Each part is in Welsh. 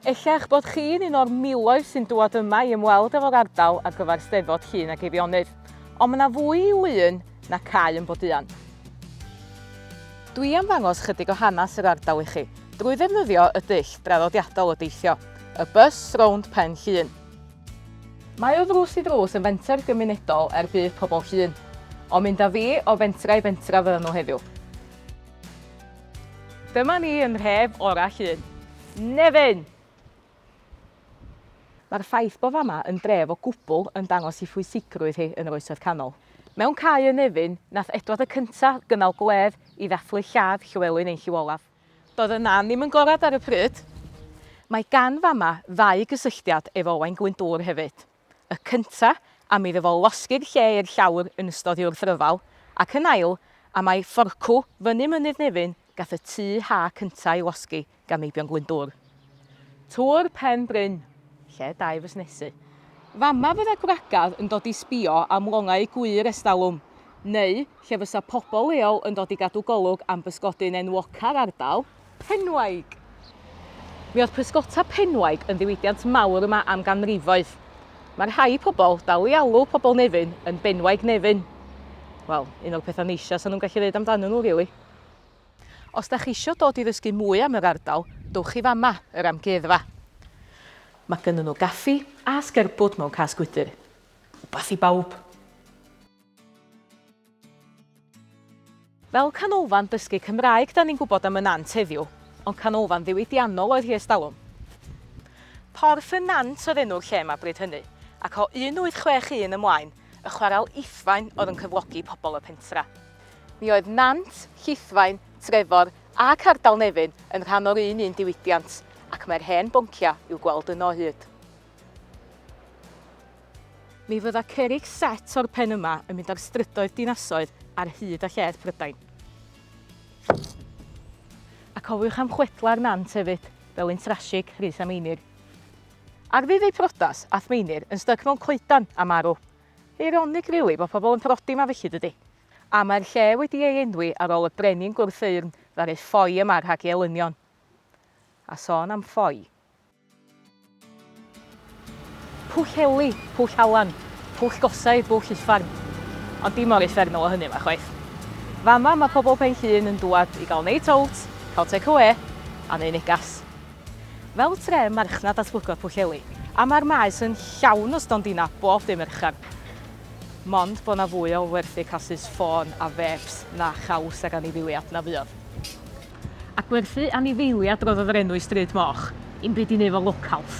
Ella eich bod chi'n un o'r miloedd sy'n dŵad yma i ymweld efo'r ardal ar gyfer Steddfod Llŷn ac Eifionydd, ond mae 'na fwy i Lŷn na cau yn Boduan. Dwi am ddangos chydig o hanes yr ardal i chi drwy ddefnyddio y dull draddodiadol o deithio, y bws rownd Pen Llŷn. Mae o ddrws i ddrws yn fenter gymunedol er budd pobl Llŷn, ond mynd â fi o fentra i fentra fyddan nhw heddiw. Dyma ni yn rhef orau Llŷn. Nefyn! Mae'r ffaith bod fama yn dref o gwbl yn dangos i phwysigrwydd hi yn yr Oesoedd Canol. Mewn cae yn Nefyn, nath Edward y Cynta gynnal gwledd i ddathlu lladd Llywelyn ein Llyw Olaf. Doedd y nan ddim yn gorad ar y pryd. Mae gan fama ddau gysylltiad efo Owain Glyndŵr hefyd. y cynta am iddo fo losgi'r lle i'r llawr yn ystod i wrthryfel, ac yn ail am a'i fforcw fyny Mynydd Nefyn gath y tŷ ha cynta ei losgi gan Meibion Glyndŵr. Tŵr Pen Bryn, lle da'i fusnesu. Fama fydda gwragedd yn dod i sbio am longau gwŷr estalwm, neu lle fysa pobl leol yn dod i gadw golwg am bysgodyn enwoca'r ardal, Penwaig. Mi oedd pysgota Penwaig yn ddiwydiant mawr yma am ganrifoedd. Mae rhai pobl dal i alw pobl Nefyn yn Benwaig Nefyn. Wel, un o'r pethau neisiau sy'n nhw'n gallu ddeud amdanyn nhw, rili. Os da chi isio dod i ddysgu mwy am yr ardal, dowch i fama, yr Amgueddfa. Mae gynnyn nhw gaffi a sgerbwd mewn cas gwydr. Wbath i bawb! Fel canolfan dysgu Cymraeg 'dan ni'n gwybod am y Nant heddiw, ond canolfan ddiwydiannol oedd hi ers talwm. Porth y Nant oedd enw'r lle 'ma bryd hynny, ac o 1861 ymlaen, y chwarel Iffain oedd yn cyflogi pobl y pentra. Mi oedd Nant, Llithfaen, Trefor ac ardal Nefyn yn rhan o'r un un diwydiant, ac mae'r hen bonciau i'w gweld yno o hyd. Mi fydda cerrig set o'r pen yma yn mynd ar strydoedd dinasoedd ar hyd a lled Prydain. A cofiwch am chwedlau'r nant hefyd, fel un trasig, Rhys a Meinir. Ar ddydd eu prodas, ath Meinir yn styc mewn coedan a marw. Eironig rili bod pobl yn prodi ma felly dydi? A mae'r lle wedi ei enwi ar ôl y brenin gwrth-eyrn ddaru ffoi yma rhag ei elynion. A sôn am ffoi. Pwll Eli, Pwll Alan, Pwll Gosau, Bwll Uffern. Ond dim mor uffernol o hynny 'ma chwaith. Fama mae pobl Pen Llŷn yn dŵad i gael night out, cael take away a neu negas. Fel tre marchnad datblygwr Pwll Eli, a mae'r maes yn llawn o stondina bob dim erchan. Mond bod 'na fwy o werthu casys ffôn a fêps na chaws ag anifeiliad na fuodd. a gwerthu anifeiliad roddodd yr enw i Stryd Moch i'm byd i neu fo locals.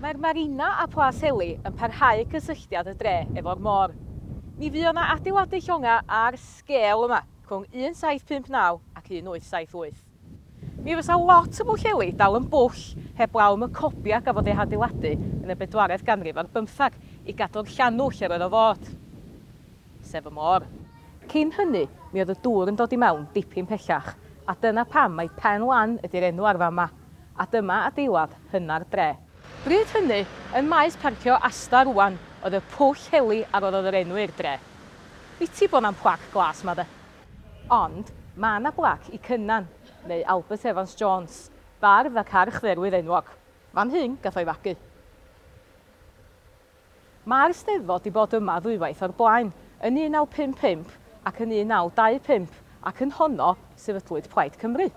Mae'r marina a Plas Heli yn parhau cysylltiad y dre efo'r môr. Mi fuo 'na adeiladu llonga ar sgêl yma rhwng 1759 ac 1878. Mi fysa lot o Bwll Heli dal yn bwll heblaw am y cobia gafodd eu hadeiladu yn y bedwaredd ganrif ar bymthag i gadw'r llanw lle roedd o fod. sef y môr. Cyn hynny, mi oedd y dŵr yn dod i mewn dipyn pellach, a dyna pam mai Pen Lan ydy'r enw ar fan 'ma. A dyma adeilad hynna'r dre. Bryd hynny, yn maes parcio Asda rŵan, oedd y Pwll Heli a roddodd yr enw i'r dre. Biti bod 'na'm plac glas 'ma de. Ond, ma' 'na blac i Cynan, neu Albert Evans Jones, bardd ac archdderwydd enwog. Fan hyn gath o'i fagu. Mae'r Eisteddfod 'di bod yma ddwywaith o'r blaen, yn 1955 ac yn 1925, ac yn honno sefydlwyd Plaid Cymru.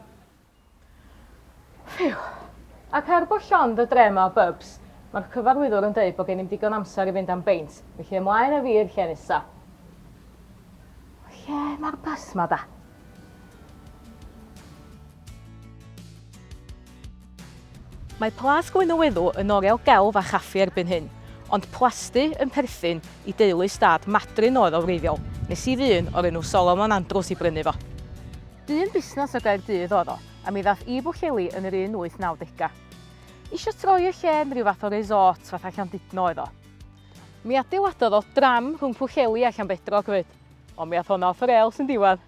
Ffîw. Ac er bod llond y dre 'ma o bybs, mae'r cyfarwyddwr yn deud bod gennym digon amser i fynd am beint, felly ymlaen â fi i'r lle nesa. Lle mae'r bus ma da? Mae Plas Glynneweddw yn oriel gelf a chaffi erbyn hyn, ond plasty yn perthyn i deulu stad Madryn oedd o wreiddiol, nes i ddyn o'r enw Solomon Andrews i brynu fo. Dyn busnes o Gaerdydd oedd o, a mi ddath i Bwllheli yn yr un wyth naw degau. Isio troi y lle yn rhyw fath o resort fatha Llandudno oedd o. Mi adeiladodd o dram rhwng Pwllheli a Llanbedrog 'fyd. Ond mi ath honna off y rêls yn diwadd.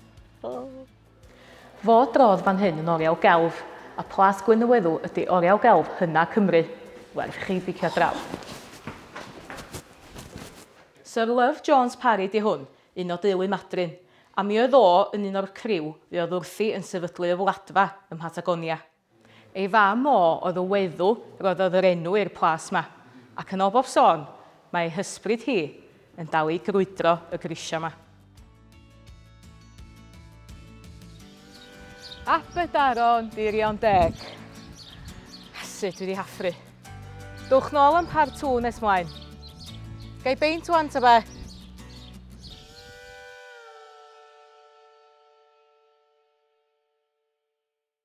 Fo drodd fan hyn yn oriel gelf, a Plas Gwyn y Weddw ydi oriel gelf hynna Cymru. Werth i chi bicio draw. Syr Love Jones Parry 'di hwn, un o deulu Madryn, a mi oedd o yn un o'r criw fuodd wrthi yn sefydlu y Wladfa ym Mhatagonia. Ei fam o oedd y weddw roddodd yr enw i'r plas 'ma, ac yn ol bob sôn, mae ei hysbryd hi yn dal i grwydro y grisia 'ma. Aberdaron Dirion Deg. Sut dwi 'di hafru. Dowch nôl am part two nes mlaen. Gai beint ŵan ta be?